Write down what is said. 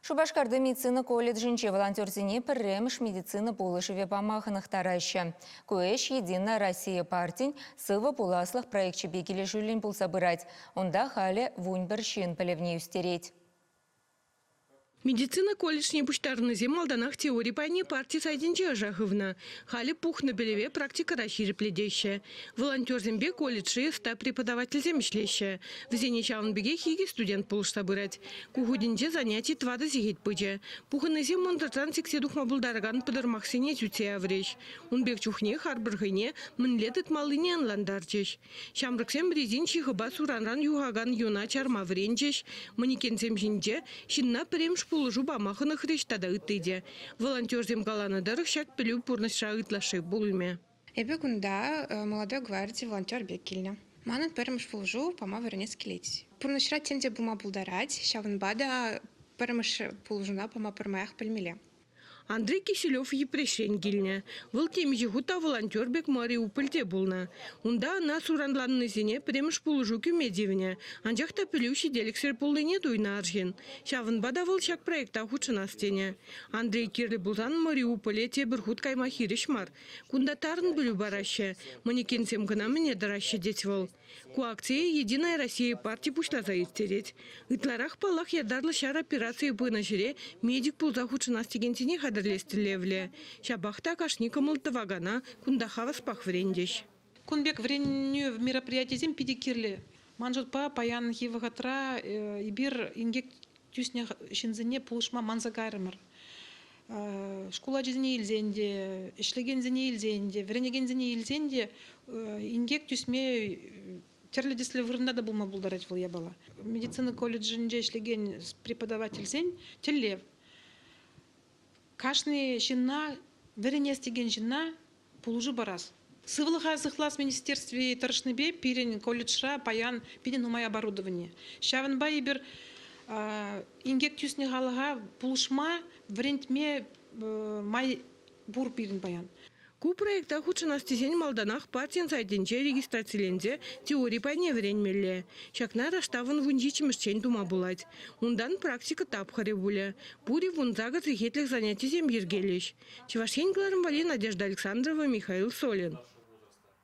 Шупашкарти медицина колледжӗнче волонтерсене пӗрремӗш медицина пулӑшӑвӗ пама хӑнӑхтараҫҫӗ. Ку ӗҫ «Единая Россия» партин «Сывӑ пуласлӑх» проекчӗпе килӗшӳллӗн пулса пырать. Унта халӗ вун пӗр ҫын пӗлӗвне ӳстерет. Медицина колледжне пуҫтарӑннисем малтанах теори пайне парти сайтӗнче ӑша хывнӑ. Халӗ пухнӑ пӗлӗве практикӑра ҫирӗплетеҫҫӗ. Волонтерсемпе колледжри ӑста преподавательсем ӗҫлеҫҫӗ. Вӗсене ҫавӑн пекех икӗ студент пулӑшса пырать. Ку хутӗнче заняти тӑватӑ сехет пычӗ. Пухӑннисем мӑнтӑртан сиксе тухма пултаракан пӑтӑрмахсене сӳтсе яврӗҫ. Ун пек чухне харпӑр хӑйне мӗнле тытмаллине ӑнлантарчӗҫ. Ҫамрӑксем резин ҫыхӑпа суранран юхакан юна чарма вӗренчӗҫ. Манекенсем ҫинче ҫынна пӗрремӗш пулӑшу пама хӑнӑхрӗҫ тата ытти те. Волонтерсем каланӑ тӑрӑх ҫак пӗлӳ пурнӑҫра ытлашши пулмӗ. Эпӗ кунта молодой гварди волонтер пек килнӗ. Манӑн пӗрремӗш пулӑшу пама вӗренес килет. Пурнӑҫра тем те пулма пултарать, ҫавӑнпа та пӗрремӗш пулӑшуна пама пӗрмаях пӗлмелле. Андрей Киселев Йӗпреҫрен килнӗ. Вӑл темиҫе хут та волонтер пек Мариупольте пулнӑ. Унта ӑна суранланнисене пӗрремӗш пулӑшу кӳме тивнӗ, анчах та пӗлӳ ҫителӗксӗр пулнине туйнӑ арҫын. Ҫавӑнпа та вӑл ҫак проекта хутшӑнас тенӗ. Андрей кирлӗ пулсан Мариуполе тепӗр хут кайма хирӗҫ мар, Кунта тарӑн пӗлӳ параҫҫӗ. Манекенсем кӑна мӗне тӑраҫҫӗ тет вӑл. Ку акцие Единая Россия парти пуҫласа ирттерет. Ытларах, паллах, ятарлӑ ҫар операцийӗ пынӑ ҫӗре медик пулса хутшӑнас текенсене хатӗрлес тӗллевлӗ. Ҫапах та кашни кӑмӑл тӑвакана кунта хаваспах вӗрентӗҫ. Кун пек вӗренӳ мероприятисем питӗ кирлӗ. Ман шутпа, паянхи вӑхӑтра эпир инкек тӳснӗ ҫынсене пулӑшма манса кайрӑмӑр. Шкул ачисене илсен те, ӗҫлекенсене илсен те, вӗренекенсене илсен те инкек тӳсме тӗрлӗ тӗслӗ вырӑнта та пулма пултарать вӑл япала. Медицина колледжӗнче ӗҫлекен преподавательсен тӗллев Кашни ҫынна, вӗренес текен ҫынна пулӑшу парас. Сывлӑха сыхлас министерстви тӑрӑшнипе пирӗн колледжра паян питӗ нумай оборудовани. Ҫавӑнпа эпир инкек тӳснӗ халӑха пулӑшма, вӗрентме май пур пирӗн паян. Ку проекта хутшӑнас тесен малтанах партин сайтӗнче регистрациленсе теори пайне вӗренмелле. Ҫакна раштавӑн вун ҫиччӗмӗшчен тума пулать. Унтан практика тапхӑрӗ пулӗ. Пур-и вун сакӑр сехетлӗх занятисем йӗркелӗҫ. Чӑваш Ен кӑларӑм валли Надежда Александрова, Михаил Солин.